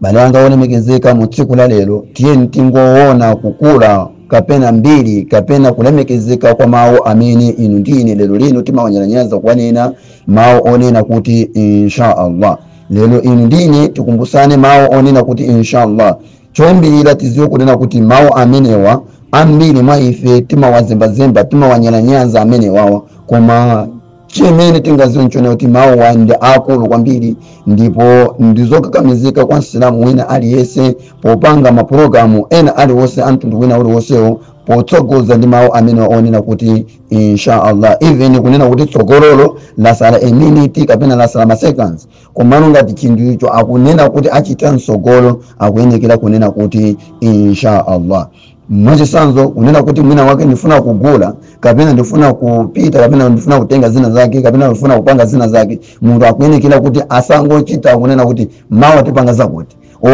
bale wanga wolemekezeka mu tsiku la lero tiyeni tingoona kukula kapena mbiri kapena kulemekezeka kwa mawu amene inu ndi ine lero lino timawanyalanyaza kuwanena mawu onena kuti inshallah lero inu ndi ine tikumbusane mawu onena kuti inshallah choyambirira tidziwe kunena kuti mawu amenewa ambiri mwa ife timawazembazemba timawanyalanyaza amenewawa koma chimene tingadziwe nchonena kuti mawuwa ndi akulu kwambiri ndipo ndizokakamizika kwa msilamu wina aliyense popanga mapulogalamu ena aliwonse a mtundu wina uliwonsewo potsogoza ndi mawu amene onena kuti inshallah even kunena kuti tsogololo latsala a minute kapena latsala ma seconds komano ngati chinthu icho akunena kuti achita mtsogolo akuyenekera kunena kuti inshallah mwachitsanzo kunena kuti mwina wake ndifuna kugula kapena ndifuna kupita kapena ndifuna kutenga zina zake kapena ndifuna kupanga zina zake munthu akuyenekera kuti asangochita kunena kuti mawa tipanga zakuti or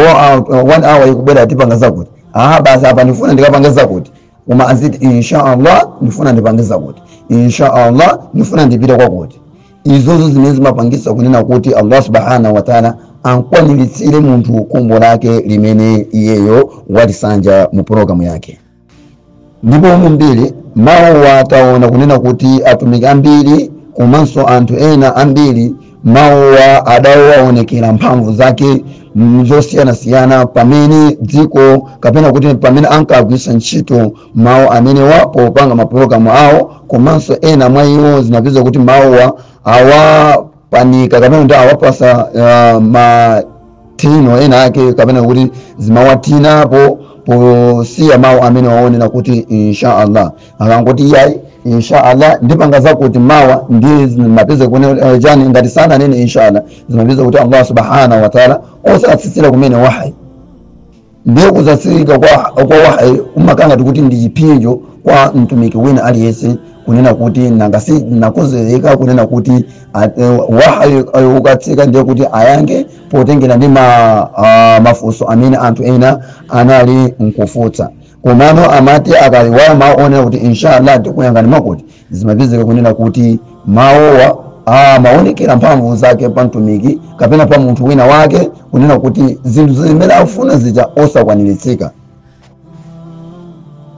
uh, one hour ikubwera tipanga zakuti aha basi apa ndifuna ndikapange zakuti koma adziti inshallah ndifuna ndipange zakuti inshallah ndifuna ndipite kwakuti izozo zimene zimapangitsa kunena kuti allah subhanahu wataala ankwaniritsire munthu khumbo lake limene iyeyo walisanja mu pulogalamu yake ndipo mumbiri mawuwa taona kunena kuti atumiki ambiri komanso anthu ena ambiri mawuwa adawaonekera mphamvu zake zosiyanasiyana pamene dziko kapena kuti pamene ankagwiritsa ntchito mawu amenewa popanga mapulogalamu awo komanso ena mwa iwo zinapeza kuti mawuwa awapanika kapena kuti awapatsa uh, matino ena ake kapena kuti zimawatinapo posiya mawu amenewa onena kuti inshaallah akangoti iyayi inshaallah ndipanga zakuti mawa ndi zimapeza kunena chani ngati sananene inshaallah zimapeza kuti allah subhanahu wataala osatsitsira kumene wahayi ndiye kusatsika kwa, kwa wahayi kumakhala ngati kuti ndi chipsinjo kwa mtumiki wina aliyense kunena kuti nanga si nakozereka kunena kuti a- eh, wahayi eh, ukatsika ndiye kuti ayankhe potengera ndi ma, ah, mafunso amene anthu ena anali nkufunsa komano amati akaiwala mawu onena kuti inshallah tikuyankhani ndiye kuti zimapezeka kunena kuti mawuwa amaonekera mphamvu zake pa mtumiki kapena pa munthu wina wake kunena kuti zinthu zimene afuna zija osakwaniritsika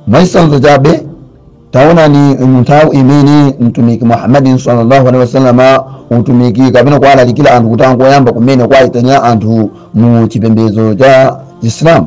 mwachitsanzo chabe taonani nthawi imene mtumiki muhammadin sallallahu alaihi wasallama utumiki kapena kuwalalikira anthu kuti angoyamba kumene kuwayitanira anthu mu chipembedzo cha chisilamu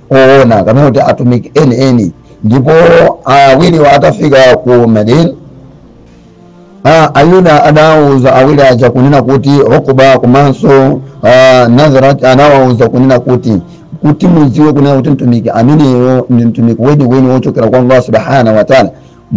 owona kapena kuti atumiki enieni ndipo awiriwo atafika ku medina Ah, ayuda adawauza awiri aja kunena kuti Uqba komanso ah, nazarat anawauza kunena kuti kuti mudziwe kunena kuti mtumiki ameneyo ndi mtumiki weniweni wochokera kwa allah subhanahu wataala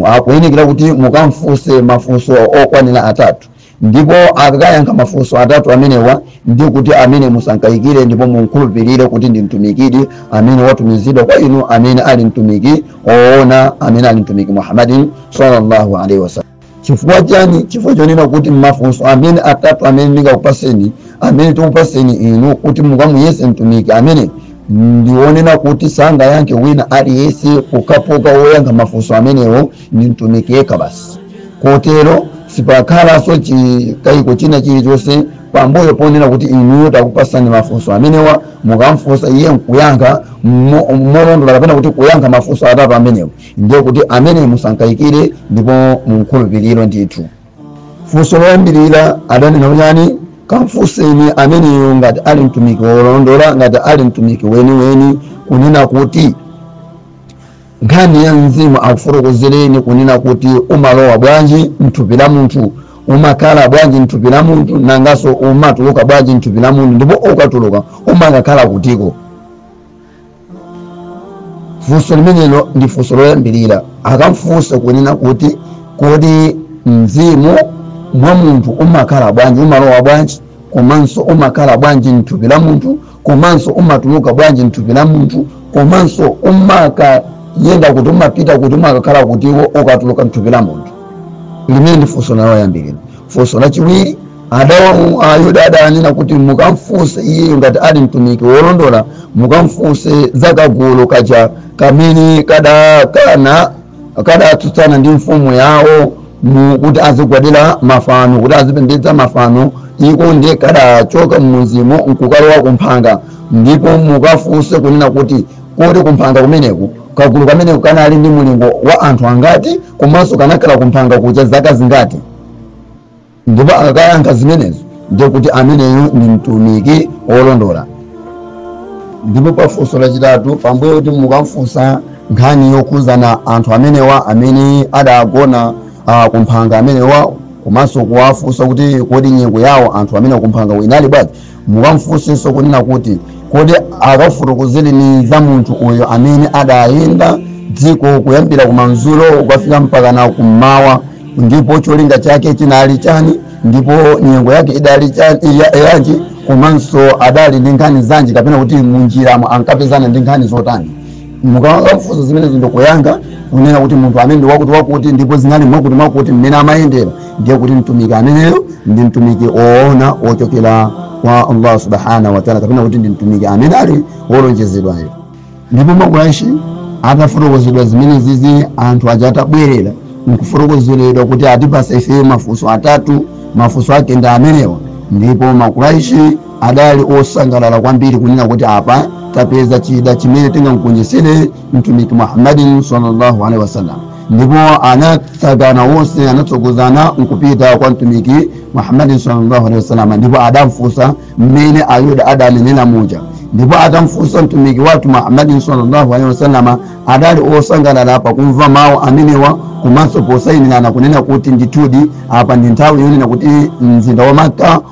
akuyenekera kuti mukamfunse mafunso okwanira atatu ndipo akayankha mafunso atatu amenewa ndiye kuti amene musankayikire ndipo mumkhulupirire kuti ndi mtumikidi amene watumizidwa kwa inu amene ali mtumiki oona amene ali mtumiki muhammadin sallallahu alaihi wasallam chifukwa chani chifukwa chonena kuti mafunso amene atatu amene ndingakupatseni amene tikupatseni inu kuti mukamuyese mtumiki amene ndionena kuti sangayankhe wina aliyense kungapoka woyankha mafunso amenewo ndi mtumiki yekha basi kotero sipakhalanso chikayiko china chilichonse pambuyo ponena kuti inuyo takupatsani mafunso amenewa mukamfunsa iye nkuyankha mo- molondola kapena kuti kuyankha mafunso atatu amenewo ndiye kuti amene musankayikire ndipo mumkhulupirire ndithu funso loyambirira adanena kuti chani kamfunseni ameneyo ngati ali mtumiki wolondola ngati ali mtumiki weniweni kunena kuti Nkhani ya mzimu akufotokozereni kunena kuti umalowa bwanji mthupi la munthu, umakhala bwanji mthupi la munthu, nanganso umatuluka bwanji mthupi la munthu, ndipo ukatuluka umakakhala kutiko. Funso limenelo ndi funso loyambirira. Akamfunsa kunena kuti kodi mzimu mwa munthu umakhala bwanji, umalowa bwanji, komanso umakhala bwanji mthupi la munthu, komanso umatuluka bwanji mthupi la munthu komanso umakayenda kuti umapita kuti umakakhala kuti iwo ukatuluka mthupi la munthu limene ndi funso loyambirira funso lachiwiri adawamu ayuda adanena kuti mukamfunse iyeyo ngati ali mtumiki wolondola mukamfunse za kagulu kaja kamene kadakana kadatsutsana ndi mfumu yawo mu kuti azigwadira mafano kuti azipembedza mafano iko ndiye kadachoka m'mudzimo nkukalowa kumphanga ndipo mukafunse kunena kuti kodi kumphanga kumeneku kagulu kameneko kanali ndi mulingo wa anthu angati komanso kanakhala kumphanga kuja zaka zingati ndipo akakayankha zimenezo ndiye kuti ameneyo ndi mtumiki wolondola ndipo pafunso lachitatu pambuyo kuti mukamfunsa nkhani yokhudzana anthu amenewa amene adagona uh, kumphanga amenewa komanso kuwafunsa kuti kodi nyengo yawo anthu amenewa kumphanga inali bwanji mukamfunsenso kunena kuti kodi akafotokozereni za munthu uyo amene adayenda dziko kuyambira kumadzulo kukafika mpakana kummawa ndipo cholinga chake chinali chani ndipo nyengo yake idali chani iya- yanji komanso adali ndi nkhani zanji kapena kuti munjiramo ankapezana ndi nkhani zotani mukamfunsa zimenezi ndikuyankha kunena kuti munthu amene ndi wakuti wakuti ndipo zinali mwakuti mwakuti mmene amayendera ndiye kuti mtumiki ameneyo ndi mtumiki oona ochokera kwa allah subhanahu wataala kapena kuti ndi mtumiki amene ali wolonjezedwayo ndipo makuraishi atafotokozedwa zimenezizi anthu aja atabwerera nkufotokozeredwa kuti atipasa ifeyo mafunso atatu mafunso ake ndi amenewa ndipo makuraishi adali osangalala kwambiri kunena kuti apa tapeza chida chimene tingamgonjetsere mtumiki muhammadin sallallahu alaihi wasallam ndipo anatsagana onse anatsogozana nkupita kwa mtumiki muhammadin sallallahu alaihi wasallam ndipo adamfunsa mmene ayuda adanenera muja ndipo atamfunsa mtumiki wathu muhammadin sallallahu alaihi wasallam adali osangalala pakumva mawu amenewa komanso posayinirana kunena kuti ndithudi apa ndi nthawi yonena kuti mzinda wa makka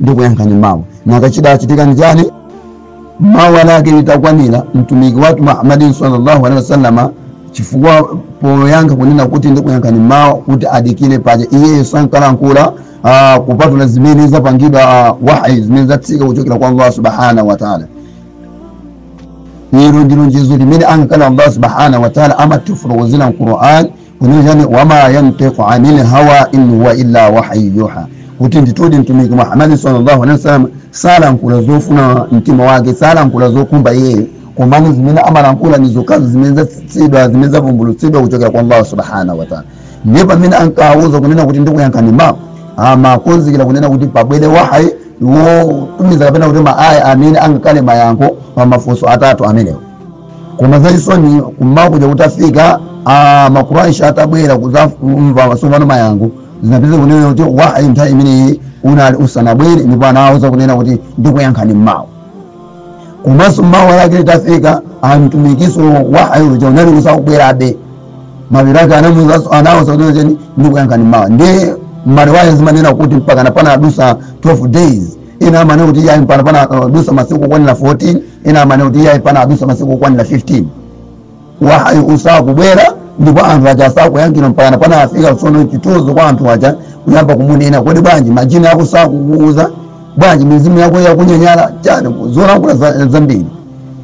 ndikuyankhani mawa nanga chidachitika ndi chani mawa lake itakwanira mtumiki wathu muhammadin sallallahu alaihi wasallam chifukwa poyankha kunena kuti ndikuyankhani mawa kuti adikire paja iyeyo sankalankhula ah, kupatula zimene zapangidwa ah, wahi zimene zatsika kuchokera kwa allah subhanahu wataala ilo ndi lonjezo limene ankakamba allah subhanahu wataala amatifotokozera mquran kunena wama yantiqu anil hawa in huwa illa wahyu yuha kuti ndithudi mtumiki muhammadi sallallahu alaihi wasallam salankhula zofuna mtima wake salankhula zokhumba iyeyo komano zimene amalankhula ndi zokhazo zimene zatsitsidwa zimene zavumbulutsidwa kuchokera kwa allah subhanahu wataala ndiye pamene ankawauza kunena kuti ndikuyankhani mawa amakonzekera kunena kuti pabwere wahayi wotumiza kapena kuti maaya amene angakhale mayankho pa mafunso atatu amenewo koma zachisoni kummawa kuja kutafika ah, makuraishi atabwera kudzamva tsopano mayankho zinapezeka kunena kuti wahayi nthawi imeneyi unali usanabwere ndipo anawauza kunena kuti ndikuyankhani mmawa komanso mmawa lake litafika amtumikiso wahayi uja unali usakubwerabe mabiro ake anawauzanso anawauza kunena cheni ndikuyankhani mmawa ndiye mariwaya zimanena kuti mpakana panadutsa 12 days ena amanena kuti yayi mpakana panadutsa masiku okwanira 14 ena amanena kuti iyayi panadutsa masiku okwanira 15 wahayi usakubwera ndipo anthu aja asakuyankhidwa mpakana panafika tsono chitozo kwa anthu aja kuyamba kumunena kodi bwanji majini ako sakukuuza bwanji mizimu yako yakunyanyala chani zolankhula za- zambiri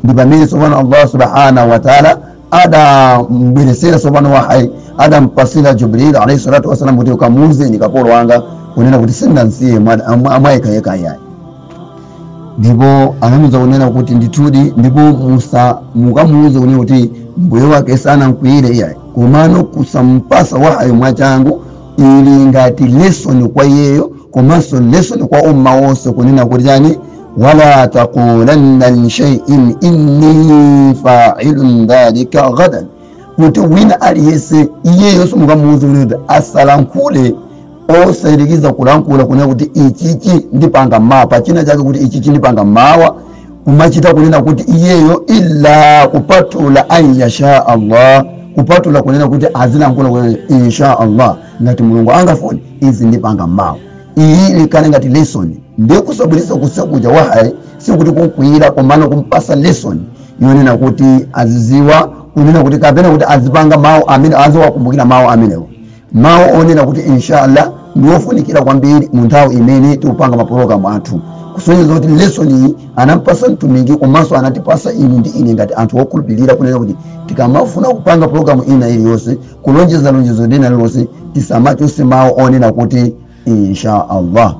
ndi pamene tsopano allah subhanahu wataala adambweretsera tsopano wahayi adampatsira jibril alaihi salatu wassalam kuti ukamuuzeni kapolo wanga kunena kuti sindinamsiye mwa- mwa- mwayekhayekha ayi ndipo anamuza kunena kuti ndithudi ndipo mukamuuze kunena kuti mbuye wake sanamkwiyire iyayi komano kusampasa wahayi mwachangu ili ngati lesson kwa iyeyo komanso lesson kwa umma wonse kunena kuti chani wala taqulanna li shaiin inni failun dhalika ghadan kuti wina aliyese iyeyo simukamuuze kunena kuti asalankhule osayerekeza kulankhula kunena kuti ichichi ndipanga mawa china chake kuti ichichi ndipanga mawa kumachita kunena kuti iyeyo illa kupatula an yasha allah kupatula kunena kuti azilankhula kunena insha allah ngati mulungu angafune izi ndipanga mawa iyi ikhale ngati lesson ndiye kusabwiriza kusabwera wahayi sikuti kukwiyira komano kumpasa lesson yonena kuti aziziwa kunena kuti kapena kuti azipanga mawu amene aziwakumbukira mawu amenewo mawu onena kuti inshallah ndi ofunikira kwambiri mu nthawi imene tikupanga mapulogalamu athu kusonyeza kuti lesson iyi anampasa mtumiki komanso anatipasa inu ndi ine ngati anthu okhulupirira kunena kuti tikamafuna kupanga pulogalamu ina iliyonse kulonjeza lonjezo lina lililonse tisamachose mawu onena kuti insha allah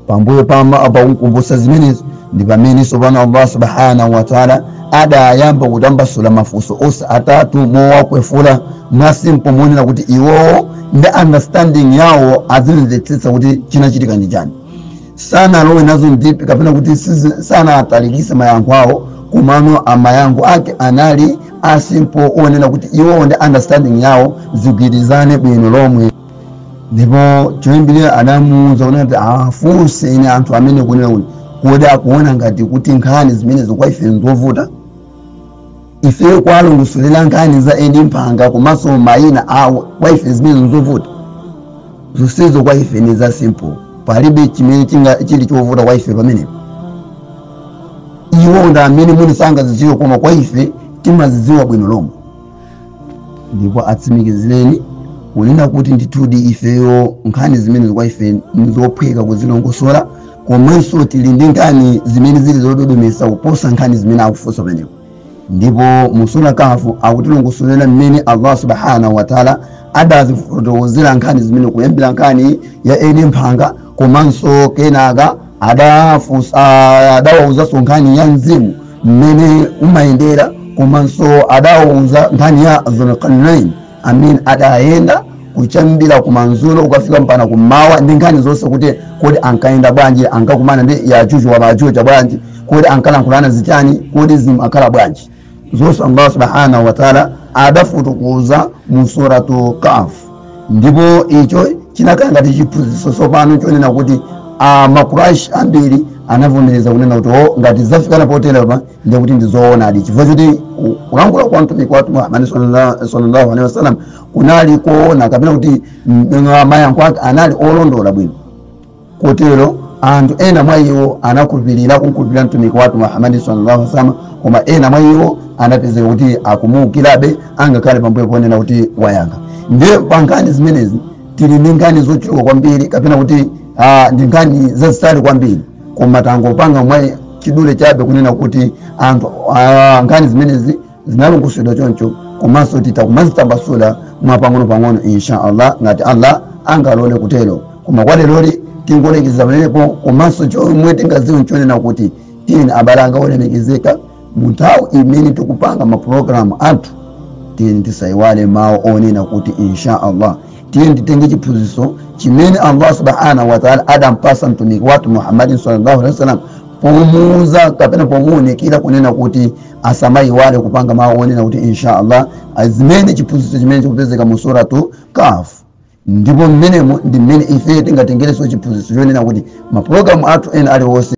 pambuyo pama pakumkumbutsa zimenezi ndi pamene sopano allah subhanahu wataala adayamba kutambasula mafunso onse atatu mowakwefula mwasimpo monena kuti iwowo ndi understanding yawo azimvetsetsa kuti chinachitika ndi chani sanalowe nazo deep kapena kuti sizi- sanatalikise mayankho awo komano mayankho ake anali asimpo onena kuti iwowo ndi understanding yawo zigwirizane bwino lomwe ndipo choyambirira adamuwuza kunena kuti afunseni anthu amenewo kunena kuti kodi akuona ngati kuti nkhani zimenezo kwa ife nzovuta ife kwalongosolera nkhani za eni mphanga komanso mayina awo kwa ife zimenezi nzovuta zonsezo kwa ife ni za simple palibe chimene chinga- chili chovuta kwa ife pamenepo iwo ndi amene mwina sangazidziwe koma kwa ife timazidziwa bwino lomwe ndipo atsimikizireni kunena kuti ndithudi ifeyo nkhani zimenezi kwa ife ndizophweka kuzilongosola komanso tili ndi nkhani zimene zili zododometsa kuposa nkhani zimene akufunsa pamenepo ndipo mu sura kahf akutilongosolera mmene allah subhanahu wataala adazifotokozera nkhani zimenezi kuyambira nkhani ya eni mphanga komanso kenaka adafunsa ah, adawauzanso nkhani ya mzimu mmene umayendera komanso adawauza nkhani ya dhulkarnain amene adayenda kuyambira kumanzulo kukafika mpaka kummawa ndi nkhani zonse kuti kodi ankayenda bwanji ankakumana ndi yajuju wa majuju bwanji kodi ankalankhulana zichani kodi zimakhala bwanji zonse allah subhanahu wataala adafotokoza mu suratu kaf ndipo icho chinakhala ngati chiphunzitso tsopano chonena kuti ah, makuraish ambiri anavomereza kunena kuti o ngati zafikana poterepa ndiye kuti ndizoonadi chifukwa choti ku- kulankhula kwa mtumiki wathu muhammadi sallallahu alaihi wasallam kunali koona kapena kuti mm, mayankho ake anali olondola bwino Kotero anthu ena mwa iwo anakhulupirira kumkhulupirira Mtumiki wathu Muhammad sallallâhu alaihi wa sallam, koma ena mwa iwo anapezeka kuti akumuukirabe angakhale pambuyo ponena kuti wayankha. Ndiye pa nkhani zimenezi tili ndi nkhani zochuluka kwambiri kapena kuti ah, ndi nkhani zazitali kwambiri koma tangopanga mwa chidule chabe kunena kuti anthu ah, nkhani zimenezi zinalongosoledwa choncho komanso titha kumazitambasula mwa pang'onopang'ono insha allah ngati allah angalole kutero koma kwa leroli tingolekezera pamenepo komanso chomwe tingadziwe nchonena kuti tiyeni abale anga olemekezeka mu nthawi imene tikupanga mapulogalamu athu tiyeni tisayiwale mawu onena kuti insha allah tiyeni titenge chiphunzitso chimene allah subhanahu wataala adampasa mtumiki wathu muhammadi sallallahu alaihi wasallam pomuuza kapena pomuunikira kunena kuti asamayiwale kupanga mawu onena kuti inshallah ndi chimene chiphunzitso chimene chikupezeka mu suratu kaf ndipo mmenemo ndi mmene ife tingatengereso chiphunzitso chonena kuti mapulogalamu athu ena aliwonse